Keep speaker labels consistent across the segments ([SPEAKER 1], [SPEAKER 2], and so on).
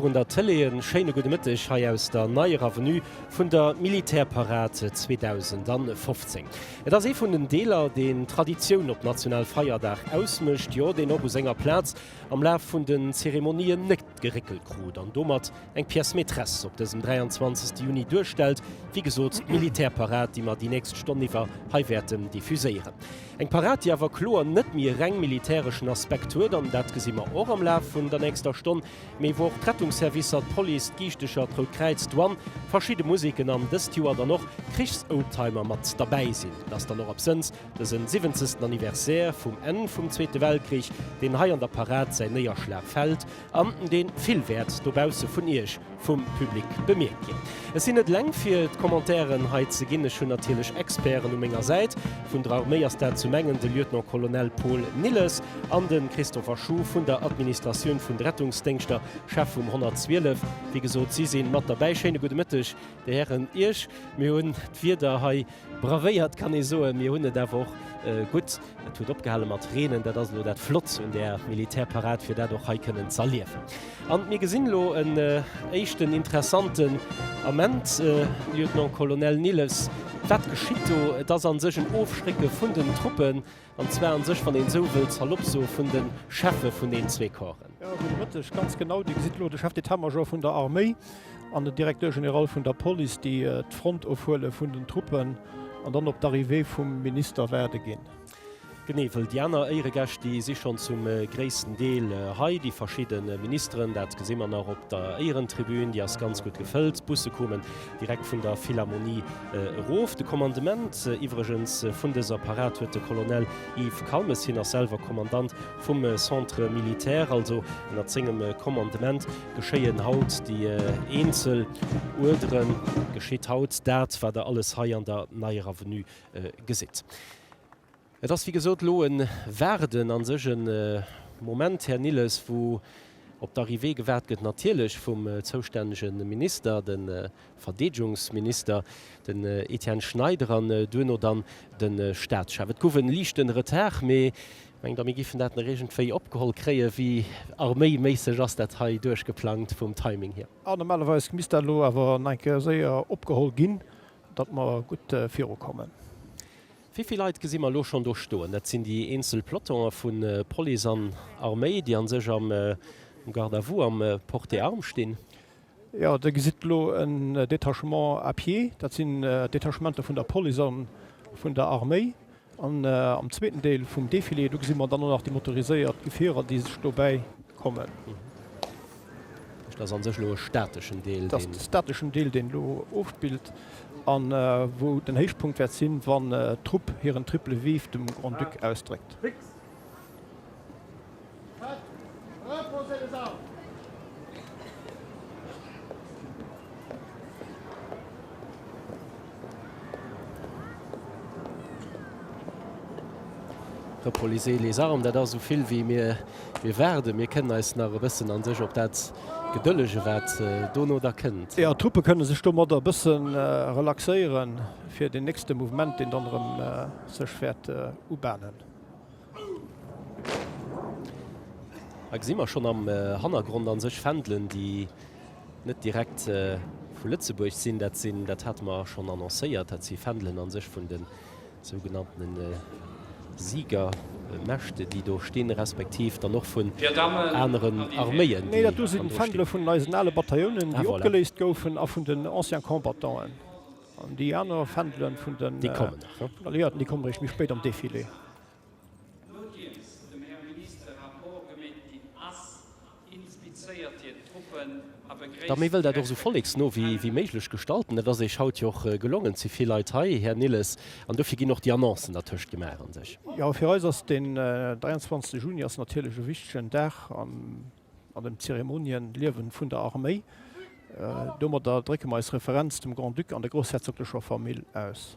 [SPEAKER 1] Virun der Tëlee e schéine gudde Mëtteg hei aus der neier Avenue vun der Militärparad 2015. Et ass ee vun den Deeler, deen d'Traditioun op national Feierdag ausmécht, jo, deen och u senger Plaz am Laf vun den Zeremonien net geréckelt krut an domat eng Pièce maîtresse op dësem 23. Juni duerstellt, wéi gesot, d'Militärparad, déi mer déi nächst Stonn iwwer hei wäerten diffuséieren. Eng Parad, déi awer kloer net méi e reng militäreschen Aspekt huet an dat gesi mer och am Laf vun der nächster Stonn. Mee wou och d'Rettungsservicer, d'Police, d'Giischtecher, d'Rout Kräiz, d'Douane, verschidde Museken an dëst Joer dann och Krichsoldtimer mat derbäi sinn, dass dann och absënns dësen siwenzegsten Anniversaire vum Enn vum Zweete Weltkrich, deen hei an der Parad säin Néierschlag fält an deen vill wäert dobausse vun Iech vum Public bemierkt ginn. Ech sinn net eleng fir d'Commentairen hei ze ginn, ech hunn natierlech Experten u menger Säit. Vun der Arméi ass dat zum engen de Lieutenant-Colonel Paul Nilles. An de Christopher Schuh vun der Administratioun vun de Rettungsdéngschter, Chef vum 112. Wéi gesot, si si mat derbäi. Schéine gudde Mëtteg, Dir Hären, Iech. Mir hunn d'Wieder hei bravéiert, kann ee soen. Mir hunn et awer och gutt. Et huet opgehale mat reenen. Dat ass elo dat Flott un där Militärparad, fir dat och hei kënnen z'erliewen. An mir gesinn elo en éischten interessanten Ament, Lieutenant-colonel Nilles, wat geschitt do? Et ass a sech en Ofschrécke vun den Truppen. An zwar an sech, wann een esou wëll, salopp soen, vun de Cheffe vun den zwee Corpsen. Jo, gudde Mëtteg. Ganz genau, Dir gesitt elo de Chef d'État-major vun der Arméi an den Directeur général vun der Police, déi d'Front ofhuele vun den Truppen an dann op d'Arrivée vum Minister waarde ginn. Genee, wëll déi aner Éieregäscht, déi si schonn zum gréissten Deel hei, déi verschidde Ministeren. Dat gesi mer nach op der Éierentribün, déi ass ganz gutt gefëllt. D'Busse kommen Direkt vun der Philharmonie erof. De Kommandement iwwregens vun dëser Parad huet de Colonel Yves Calmes, hien ass selwer Kommandant vum Centre militaire. Also ënnert sengem Kommandement geschéien haut déi eenzel Uerderen, geschitt haut dat, wat Der alles hei an der Neier Avenue gesitt. Et ass wéi gesot elo e Waarden a sech e Moment, Här Nilles, wou op d'Arrivée gewaart gëtt, natierlech vum zoustännege Minister, de Verdeedegungsminister, den Etienne Schneider, an duerno dann de Staatschef. Et gouf e liichte Retard, mee ech mengen da mir géifen dat nach iergendwéi opgeholl kréien. Wéi arméiméisseg ass dat hei duerchgeplangt vum Timing hier? Ah, normalerweis misst dat elo awer nach eng Kéier séier opgeholl ginn, datt mer gutt virukommen. Wéi vill Leit gesi mer elo schonn do stoen? Dat sinn déi eenzel Pelotonen vu Police an Arméi, déi a sech am Garde à vous, am Porte arme stinn. Jo, Dir gesitt elo en Détachement à pied. Dat sinn Detachementer vun der Police a vun der Arméi. An am zweeten Deel vum Defilé, do gesi mer dann och nach déi motoriséiert Gefierer, déi sech dobäi kommen. Dat ass an sech elo e stateschen Deel. Dat ass de stateschen Deel, deen elo ofspillt an wou den Héichpunkt wäert sinn, wann d'Trupp hiren triple Vive dem Grand-Duc ausdréckt. Repolisez les armes, dat ass esou vill wéi mir mir waarden. Mir kënnen eis nach e bëssen a sech op dat gedëllegen, wat dono da kënnt. Jo, d'Truppe kënne sech domadder e bësse relaxéieren, fir deen nächste Mouvement, deen dann erëm sech wäert ubahnen. Hei gesi mer schonn am Hannergrond a sech Fändelen, déi net direkt vu Lëtzebuerg sinn. Dat sinn, dat hate mer schonn annoncéiert, dat si Fändelen a sech vun de sougenannte Siegermächte, déi do stinn, respektiv dann och vun aneren Arméien, déi hannendru stinn. Nee, dat do si Fändele vun eisen ale Bataillonen, déi opgeléist goufen, a vun den Anciens Combattant'en. An déi aner Fändele vun den Alliéierten, déi kommen eréischt méi spéit am Defilé. Nodeems dem Här Minister e Rapport gemeet ginn ass, inspizéiert hien d'Truppen a begréisst D'Arméi wëll dat och esou volleksno wéi méiglech gestalten. Dat ass Eech haut jo och gelongen. Et si vill Leit hei, Här Nilles, an dofir ginn och déi Annoncen dertëscht gemaach a sech. Jo, fir eis ass den 23 Juni ass natierlech e wichtegen Dag an an dem Zeremoniënliewen vun der Arméi. Domadder drécke mer eis Referenz dem Grand-Duc an der groussherzoglecher Famill aus.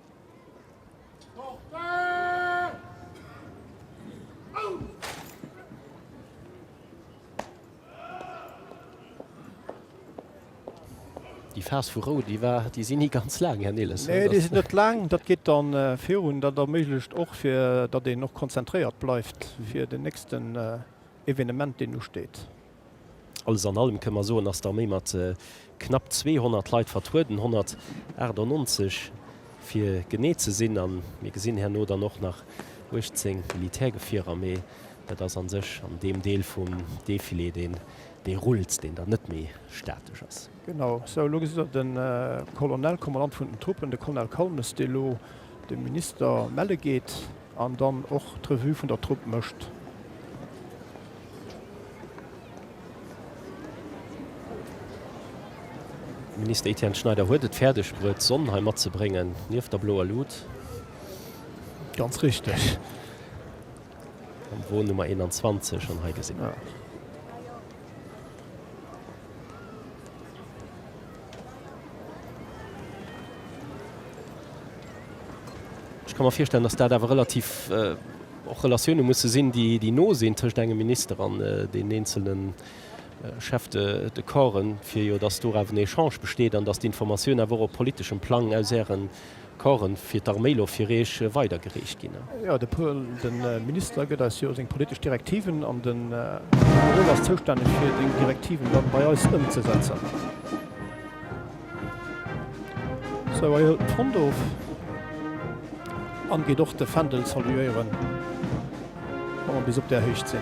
[SPEAKER 1] Déi Phas vu Rou, déi war, déi si ni ganz laang, Här Nilles, oder? Nee, déi sinn net laang. Dat geet da virun. Dat erméiglecht och, fir datt een och konzentréiert bleift fir den nächsten Evenement, deen usteet. Alles an allem kënne mer soen, dass d'Arméi mat knapp 200 Leit vertrueden, 198 fir genee ze sinn, a mir gesinn herno dann och nach 18 Militärgefierer, mee dat ass a sech an deem Deel vum Defilé, deen dee rullt, deen dann net méi statesch ass. Genau sou, elo gesitt Der de Colonel, Kommandant vun den Truppen, de Colonel Colmes, dee lo dem Minister melle geet. An dann och d'Revue vun der Trupp mécht. De Minister Etienne Schneider huet et fäerdeg bruet, d'Sonn hei matzebréngen, nieft der bloer Luut. Ganz richteg. Am Won Nummer 21 an hei gesinn. Ech ka mer virstellen, datt dat awer relativ och Relatioune musse sinn, déi déi no sinn tëscht engem Minister an den eenzelne Chefs de de corpsen, fir jo datt do awer en Echange besteet an datt d'Informatioun awer och op politeschem Plang aus Ären Corn fir d'Arméi lo fir Eech weidergereecht ginn. Jo, de Paul, de Minister, gëtt eis jo seng politesch Direktiven an den Generol ass zoustänneg fir déng Direktiven dann bei eis ëmzesetzen. Sou, hei hëlt en d'Front of an geet och de Fändel saluéieren, wa mer bis op där Héicht sinn.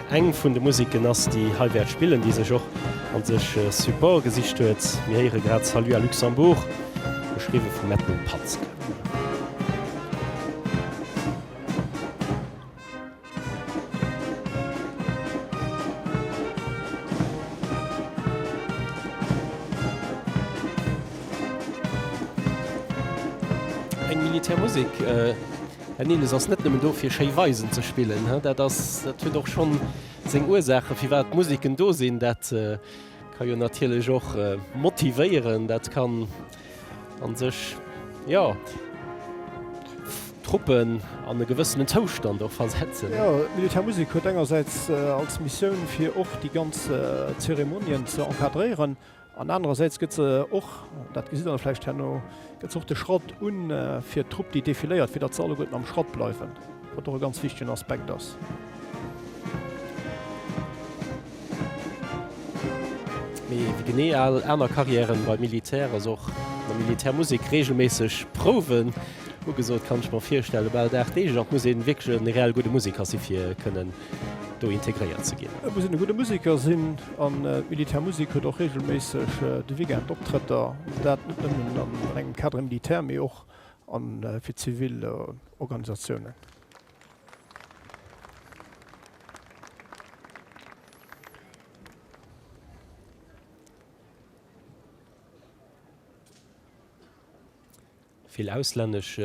[SPEAKER 1] Eng vun de Musiken ass déi hei wäert spillen, déi sech och an sech e Support gesicht huet. Mir héiere grad Salut à Luxembourg, geschriwwe vum Edmund Patzke. Eng Militärmusek. Herr Nehles ass net nëmmen do fir schéi Weisen ze spillen. Dat ass, dat huet och schonn seng Ursaachen, firwat d'Musiken do sinn. Dat ka jo natierlech och motivéieren. Dat kann a sech, jo, d'Truppen an e gewëssenen Zoustand och versetzen. Jo, d'Militärmusek huet engersäits als Missioun fir och déi ganz Zeremonien ze encadréieren An anerersäits gëtt se och, dat gesitt Der da vläicht herno, gëtt se och de Schrott u fir d'Trupp, déi defiléiert, fir datt se alleguerten am Schrott bleiwen, wat och e ganz wichtegen Aspekt ass. Mee wéi genee al aner Carrièren beim Militär ass och an der Militärmusek reegelméisseg Prouwen ugesot. Kann ech mer virstellen, bal dag deeglech och muss ee wierklech en reell gudde Musiker si fir kënnen do integréiert ze ginn. Et muss een e gudde Museker sinn an d'Militär Musik huet och reegelméisseg de Weekend Optrëtter. Dat net nëmmen an engem Cadre militaire, mee och a fir zivil Organisatiounen. Vill auslännesch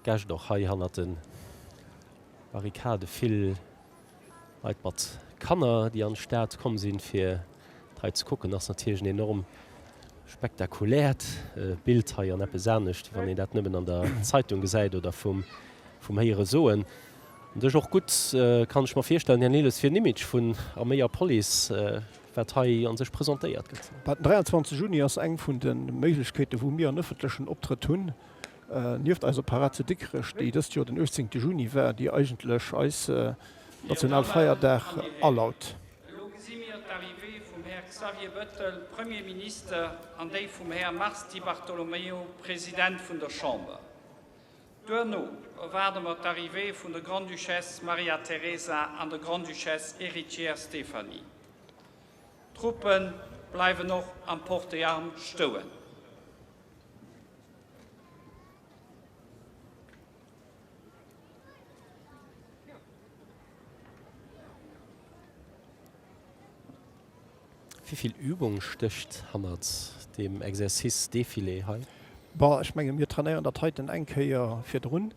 [SPEAKER 1] Gäscht och hei hannert de Barrikade. Vill Leit mat Kanner, déi an d'Stad komm sinn, fir et hei ze kucken. Ass natierlech en enorm spektakuläert Bild hei an eppes anescht, wann een dat nëmmen an der Zeitung gesäit oder vum Héiere soen. An dech och gutt, kann ech mer virstellen, Här Nilles, fir en Image vun Arméi a Police. wat hei a sech presentéiert gëtt. Den 23 Juni ass eng vun de Méiglechkeeten, wou mir en ëffentlechen Optrëtt hunn, nieft eiser Parad zu Dikrech, déi dëst Joer den 18 Juni war, déi eigentlech eis Nationalfeierdag alaut. Elo gesi mir d'Arrivée vum Här Xavier Bettel, Premier Minister, an déi vum Här Mars Di Bartolomeo, President vun der Chamber. Duerno erwaarde mer d'Arrivée vun der Grande-Duchesse Maria Teresa an der Grande-Duchesse Héritière Stéphanie. D'Truppe bleiwen och am Porte des Armes stouen. Wivill Übung stécht hannert deem Exercice Défilé hei? Bah, ech menge mir trainéieren dat heiten eng Kéier virdrun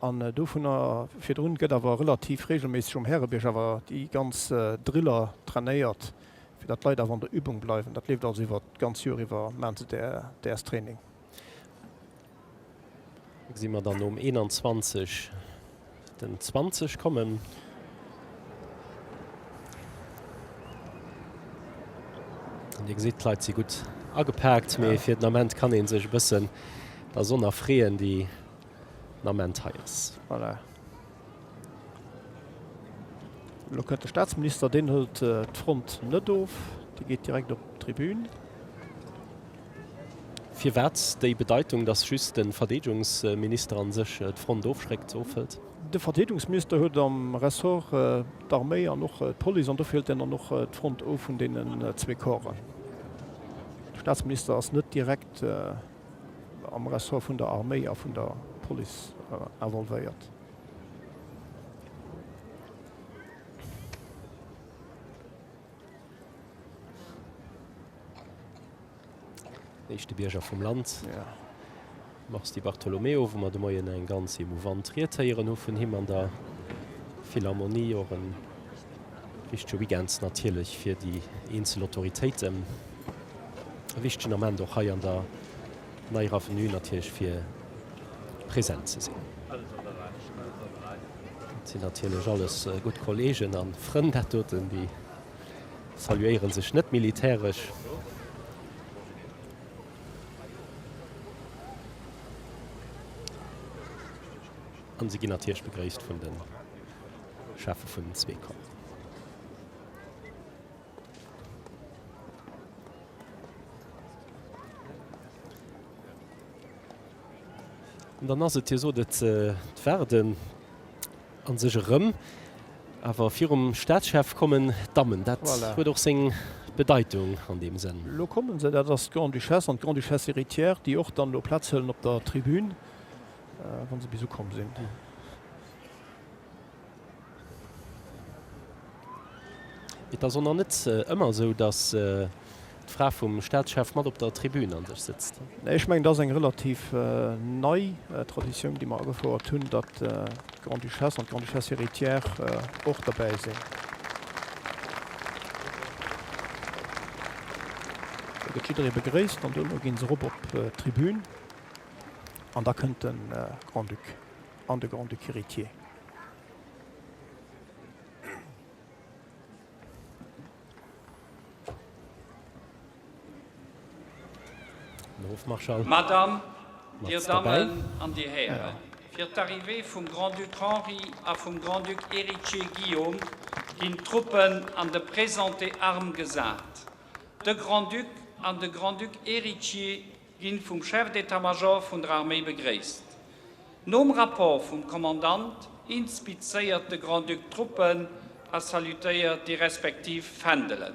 [SPEAKER 1] an dovunner virdrun gëtt awer relativ regelméisseg um Härebierg awer déi ganz Driller trainéiert, fir dat d'Leit awer an der Übung bleiwen. Dat leeft also iwwert d'ganz Joer iwwer, maachen se däers Training. Gesi mer dann nom 21 den 20 kommen. An Dir gesitt, d'Leit si gutt agepaakt, mee ja. fir den Ament kann een sech e bëssen der Sonn erfreeën, déi den Ament hei ass. Voilà. Elo kënnt de Staatsminister, deen hëlt d'Front net of, dee geet direkt op d'Tribün. Firwat déi Bedeitung, datt just de Verdeedegungsminister a sech d'Front ofschréckt, ofhëlt? De Verdeedungsminister huet am Ressort d'Arméi an och d'Police, an dofir hëlt en dann och d'Front of vun deenen zwee Corpsen. De Staatsminister ass net direkt. am Ressort vun der Arméi a vun der Police involvéiert. Éischte Bierger vum Land, Mars Di Bartolomeo, wou mer de Moien eng ganz emouvant Ried héieren hu vun him an der Philharmonie. Wichtege Weekend natierlech fir déi eenzel Autoritéiten. E wichtegen Ament och hei an der Neier Avenue natierlech fir present ze sinn. Dat sinn natierlech alles gutt Kolleegen a Frënn dat doten, déi saluéiere sech net militäresch. An se ginn natierlech begréisst vun den. Schärfe vun den zwee kommen. An dann ass et hier so dat äh, d'Warden an sech erëm. Awer virum Staatschef kommen d'Dammen. Dat voilà. huet och seng Bedeitung an dem Sënn. Lo kommen se, dat ass d'Grande-Duchesse an d'Grande-Duchesse héritière, déi och dann elo Plaz hëllen op der Tribün, äh, wann se bis ukomm sinn. Et ass och nach net ëmmer esou, datt d'Fra vum Staatschef mat op der Tribün an sech sëtzt. Ech mengen, et ass eng relativ nei Traditioun, déi mer agefouert hunn, datt d'Grande-Duchesse an d'Grande-Duchesse héritière och dobäi sinn. Do gëtt jidderee begréisst an duerno ginn se erop op d'Tribün an da kënnt de Grand-Duc. an de Grand-Duc héritier. Madame, Dir Dammen an Dir Hären, fir d'Arrivée vum Grand-Duc Henri a vum Grand-Duc héritier Guillaume ginn d'Truppen an de Présenté armes gesat. De Grand-Duc an de Grand-Duc héritier ginn vum Chef d'état-major vun der Arméi begréisst. Nom Rapport vum Kommandant inspizéiert de Grand-Duc d'Truppen a salutéiert déi respektiv Fändelen.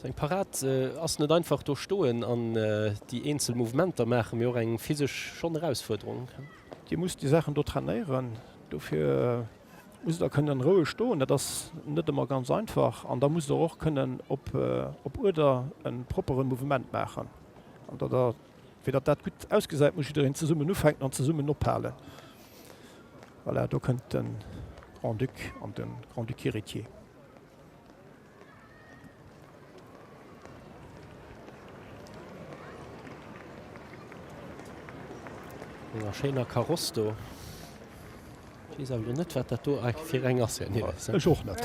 [SPEAKER 1] Sou eng Parad ass net einfach, do stoen an déi eenzel Mouvementer maachen, mee och eng physesch schonn Erausfuerderung. Dir musst déi Saachen do trainéieren, dofir musst der kënnen roueg stoen, dat ass net ëmmer ganz einfach an da musst der och kënnen op Uerder e proppere Mouvement maachen. Fir datt dat gutt ausgesäit, muss jiddereen zesummen ufänken an zesummen ophalen. Voilà, do kënnt de Grand-Duc an de Grand-Duc héritier. Enger schéiner Kaross do. Ech weess awer lo net, wat dat do fir eng ass, Här Nilles. Ech och net.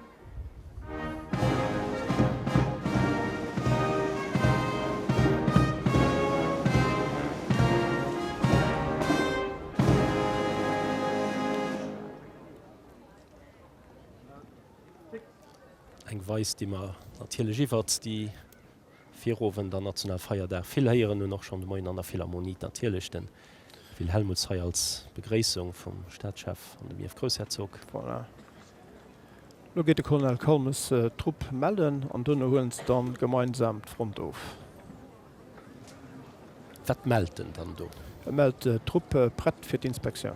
[SPEAKER 1] Eng Weis déi mer natierlech iwwert déi Virowend an Nationalfeierdag. Vill héieren un och schonn de Moien an der Philharmonie natierlech de Phil Hellmuth hei als Begréissung vum Staatschef an dem Iev Groussherzog. Voilà. Lo geet de Colonel Kalmes d'Trupp mellen an duerno huelen se dann gemeinsam d'Front of. Wat mellt en dann do? E mellt d'Trupp prett fir d'Inspektioun.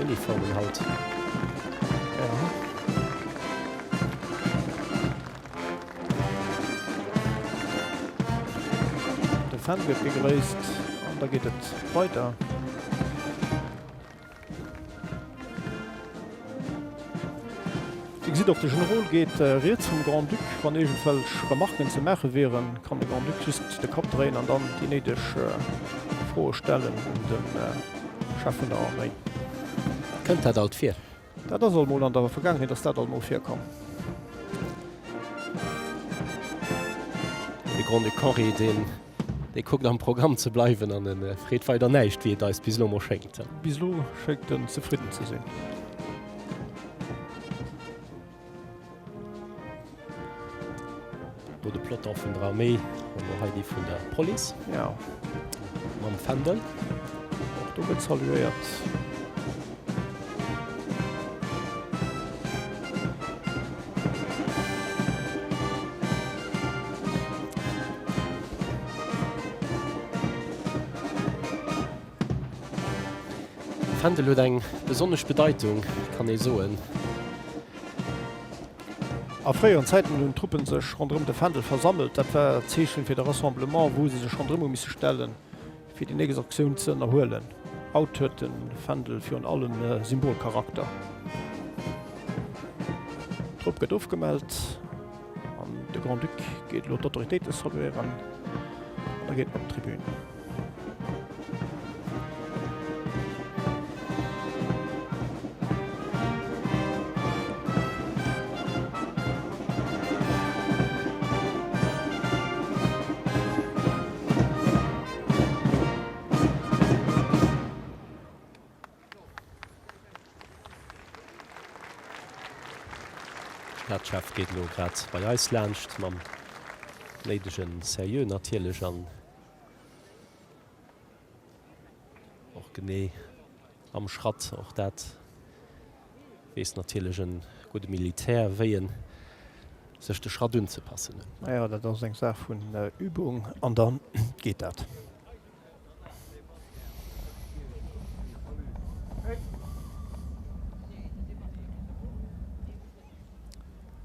[SPEAKER 1] Uniformen haut, ja. De Fan gëtt gegréisst an da geet et weider. Wéi gesitt och de Generol geet riets vum Grand-Duc. Wann iergendwelch Remarquen ze maache wieren, kann de Grand-Duc just de Kapp dréien an dann déi néideg Froe stellen un de Chef vun der Arméi. Kënnt dat alt vir? Dat ass alt mol, an der Vergaangenheet ass dat alt mol virkomm. De Grand-Duc Henri, dee Dee kuckt am Programm ze bleiwen an e freet weider näischt, wéi et eis bis elo mol schéngt. Bis elo schéngt en zefridden ze sinn. do de Plotter vun der Armee an der Heidi vun der Police. Ja. Mam Fändel. Do gëtt saluéiert. D'Fändel huet eng besonnesch Bedeitung, kann ee soen. A fréieren Zäiten hunn d'Truppe sech ronderëm de Fändel versammelt. Dat war d'Zeechen fir de Rassemblement, wou se sech ronderëm hu misse stellen. Fir déi nächst Aktioun ze ënnerhuelen. Haut huet de Fändel virun allem e Symbolcharakter. D'Trupp gëtt ofgemellt an de Grand-Duc geet elo d'Autoritéite saluéieren an da geet en op d'Tribün. Här Chef geet elo grad bei eis laanscht, mam néidege Seriö natierlech an och genee. Am Schratt, och dat weess natierlech e gudde Militär, wéi e sech de Schratt unzepassen huet. Ma jo, dat ass eng Saach vun Übung an da geet dat.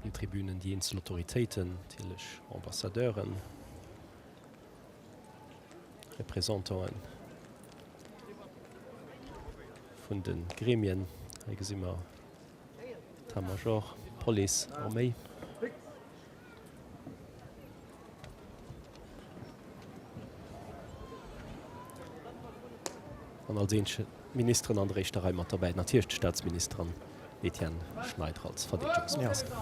[SPEAKER 1] Op den Tribünen déi eenzel Autoritéiten, natierlech Ambassadeuren. Représentanten vun den Gremien. Hei gesinn mer d'Etat-Major, d'Police, Arméi. An als éischte Ministeren an der éischter Rei mat derbäi natierlech d'Staatsministerin Etienne Schneider als Verdeedegungsminister.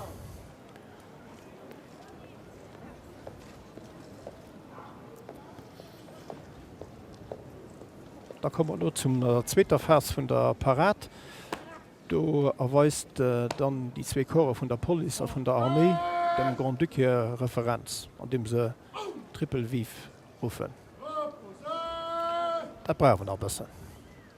[SPEAKER 1] Da komme mer elo zum der zweeter Phas vun der Parad. Do erweist dann déi zwee Corpse vun der Police a vun der Arméi dem Grand-Duc hir Referenz, andeem se Triple Vive ruffen. Dat brauch een nach e bëssen.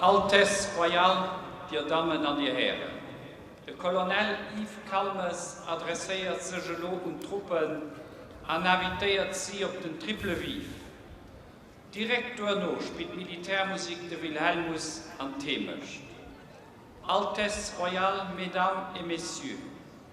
[SPEAKER 1] Altesse Royale, Dir Dammen an Dir Hären, de Colonel Yves Calmes adresséiert sech elo un d'Truppen an invitéiert si op den Triple Vive. Direkt duerno spillt d'Militärmusik de Wilhelmus an d'Heemecht. Altesse Royale, Mesdames et Messieurs.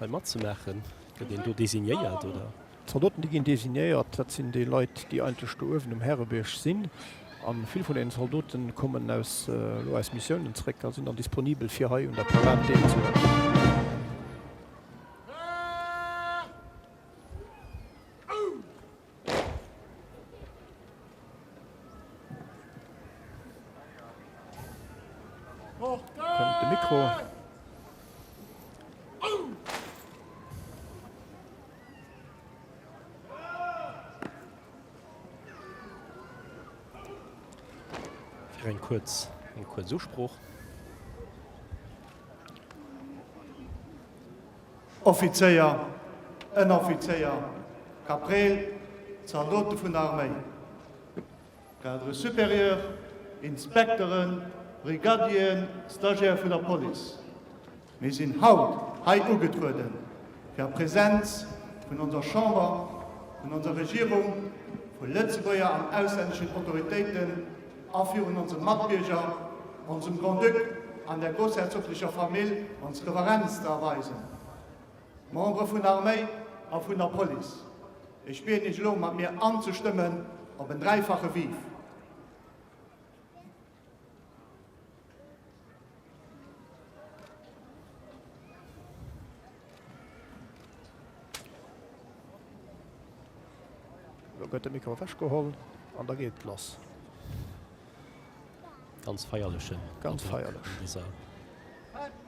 [SPEAKER 1] Hei matzemaachen? Gëtt een do designéiert, oder? D'Zaldoten, déi ginn designéiert. Dat sinn déi Leit, déi eigentlech do uewen um Härebierg sinn. A vill vun deenen Zaldote kommen aus, elo aus Missiounen zréck a sinn dann disponibel, fir hei un der Parad deelzehuelen. Kommt de Mikro. Fir eng kurz, eng kurz Usproch. Offizéier, Ënneroffizéier, Kaprääl, Zaldote vun der Arméi, Cadres supérieurs, Inspekteren, Brigadien, Stagiaire vun der Police, mir sinn haut hei ugetrueden, fir a Präsenz vun onser Chamber, vun onser Regierung, vu Lëtzebuerger an auslänneschen Autoritéiten, A virun onsem Matbierger, onsem Grand-Duc an der groussherzoglecher Famill ons Reverenz ze erweisen. Membere vun der Arméi a vun der Police, ech bieden Iech elo mat mir anzestëmmen op en dräifache Vive. Lo gëtt de Mikro ewechgeholl an da geet et lass. Ganz feierlechen Ganz feierlech. An dëser.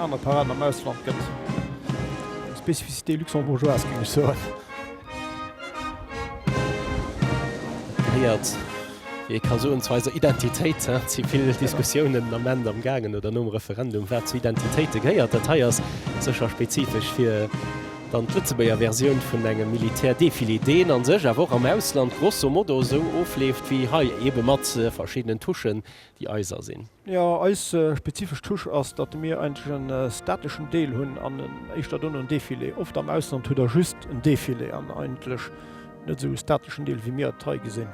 [SPEAKER 1] Aner Parade am Ausland gëtt eng Spécificité luxembourgeoise, géing ech soen. Et héiert, wéi ee ka soen, zu eiser Identitéit. Et si vill Diskussiounen den Ament am gaangen, oder nom Referendum, wat zu Identitéite gehéiert. Dat hei ass sécher spezifesch fir dann d'Lëtzebuerger Versioun vun engem Militärdefilé, deen a sech awer och am Ausland grosso modo esou ofleeft wéi hei, ebe mat verschiddenen Touchen, déi eiser sinn. Jo, eis spezifesch Touche ass, datt mir eigentlech en stateschen Deel hunn an en éischter dono en Defilé. Oft am Ausland hutt der just en Defilé an eigentlech net esou e stateschen Deel, wéi mir et hei gesinn.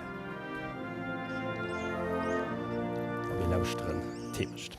[SPEAKER 1] A mir lauschteren d'Heemecht.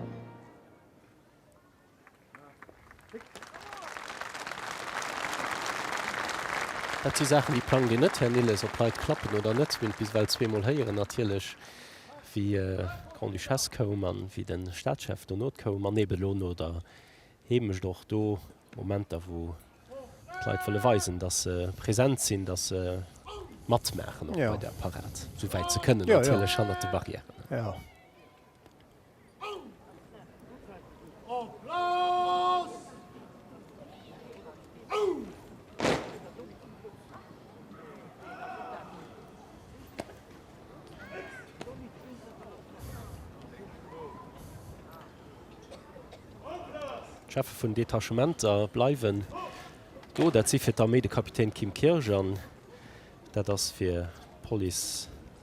[SPEAKER 1] Dat si Saachen, déi plangt een net, Här Nilles. Ob Leit klappen oder net, hunn bis ewell zweemol héieren natierlech, wéi d'Grande-Duchesse koum a wéi de Staatschef dono koum. An eben elo no der Heemecht och do Momenter, wou d'Leit wëlle weisen, datt se present sinn, datt se matmaachen op bei der Parad, esou wäit se kënnen natierlech, hannert de Barrièren. D'Cheffe vun Detachementer bleiwen do. Dat si fir d'Arméi de Kapitän Kim Kirsch an dat ass fir d'Police.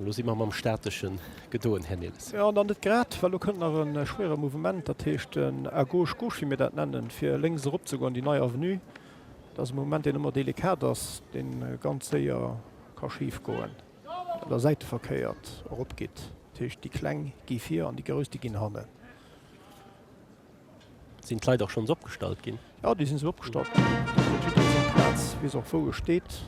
[SPEAKER 1] Elo si mer mam Statische gedoen, Här Nilles. Jo, dann net grad, well elo kënnt nach e schwéiere Mouvement, dat heescht den à gauche gauche, wéi mir dat nennen, fir lénks eropzegoen, déi nei Avenue. Dat ass e Mouvement, deen ëmmer delikat ass, dee ganz séier ka schif goen, well Der säiteverkéiert eropgeet. Dat heescht, déi Kleng gi vir an déi Grouss, déi ginn hannen. Sinn d'Leit och schonns opgestallt ginn? Jo, déi sinn esou opgestallt ginn. Dofir huet jidderee seng Plaz, weess och, wou e steet.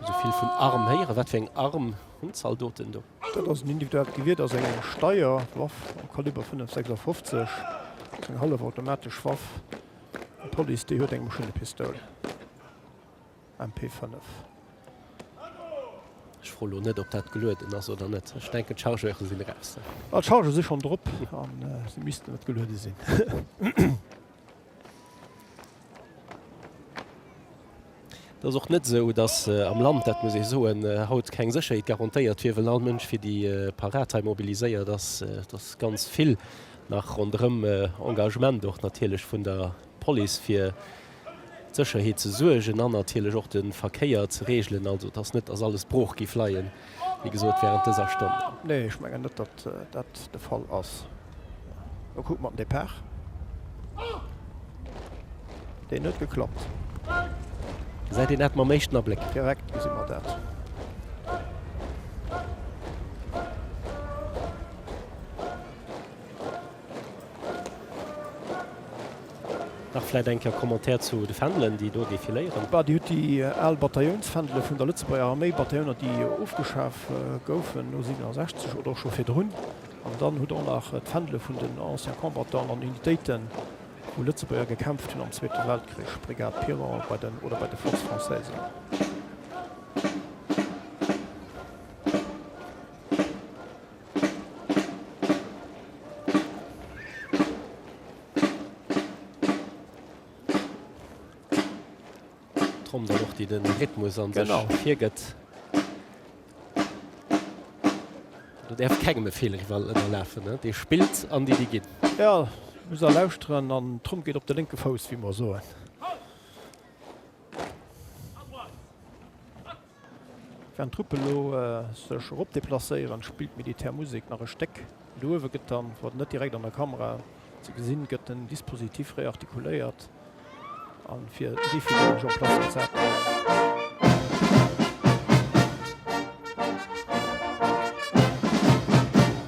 [SPEAKER 1] Esou vill vun Arm héieren, wat fir eng Arm hunn d'Zaldoten do? Dat ass en individuellt Gewier, dat ass eng Steierwaff am Kaliber 5,56, eng hallefautomatesch Waff. D'Police, déi huet eng Maschinnepistoul, MP 5. Ech froe lo net, ob dat gelueden ass oder net. Ech denken, d'Chargeuren sinn eraus. Ah, d'Chargeuren si schonn drop an se missten net geluede sinn. Et ass och net esou, datt am Land, dat muss ee soen, haut keng Sécherheet garantéiert wier, well all Mënsch fir déi Parad hei mobiliséiert ass. Et ass ganz vill nach ronderëm, Engagement och natierlech vun der Police fir d'Sécherheet ze suergen an natierlech och de Verkéier ze regelen. Also et ass net, datt alles brooch géif leien. wéi gesot, während dëser Stonn. Nee, ech mengen net, datt dat de Fall ass. Elo kucke mer den Depart. Deen huet geklappt. Gesäit een dat mam éischten Abléck? Direkt gesi mer dat. Dach vläit eng Kéier Commentaire zu de Fändelen, déi do defiléieren. D'adr huet déi al Bataillounsfändele vun der Lëtzebuerger Arméi, Batailloner, déi ofgeschaf goufen no 67 oder och scho virdrun, an dann hutt och nach d'Fändele vun den Anciens Combattants an Unitéiten, wou Lëtzebuerger gekämpft hunn am Zweete Weltkrich, Brigade Piron bei den oder bei de Forces françaises. Tromm dann och déi den Rhythmus an sech genau. virgëtt. Du därf kegem e Fehler iwwer ënnerlafen. Ne? Dee spillt an déi déi ginn. Ja, muss er lauschteren an Tromm geet op de lénke Fouss, wéi mer soen. Während d'Truppe lo sech erop deplacéieren, spillt d'Militär Musek nach e Stéck. Do uewe gëtt dann, wat net direkt an der Kamera ze gesinn gëtt, den Dispositif reartikuléiert a fir Defibrillage en place gesat.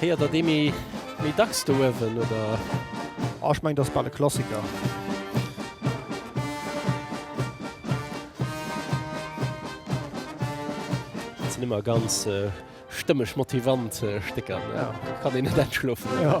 [SPEAKER 1] Héiert der dee méi dacks do uewen, oder? Ah, ech mengen, dat ass bal e Klassiker. Dat sinn ëmmer ganz stëmmeg, motivant Stécker. Da kann een net aschlofen. Jo.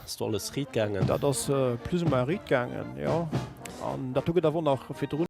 [SPEAKER 1] Ass do alles riit gaangen? Dat ass plus ou moins riit gaangen, jo. An dat do gëtt awer och nach virdrun.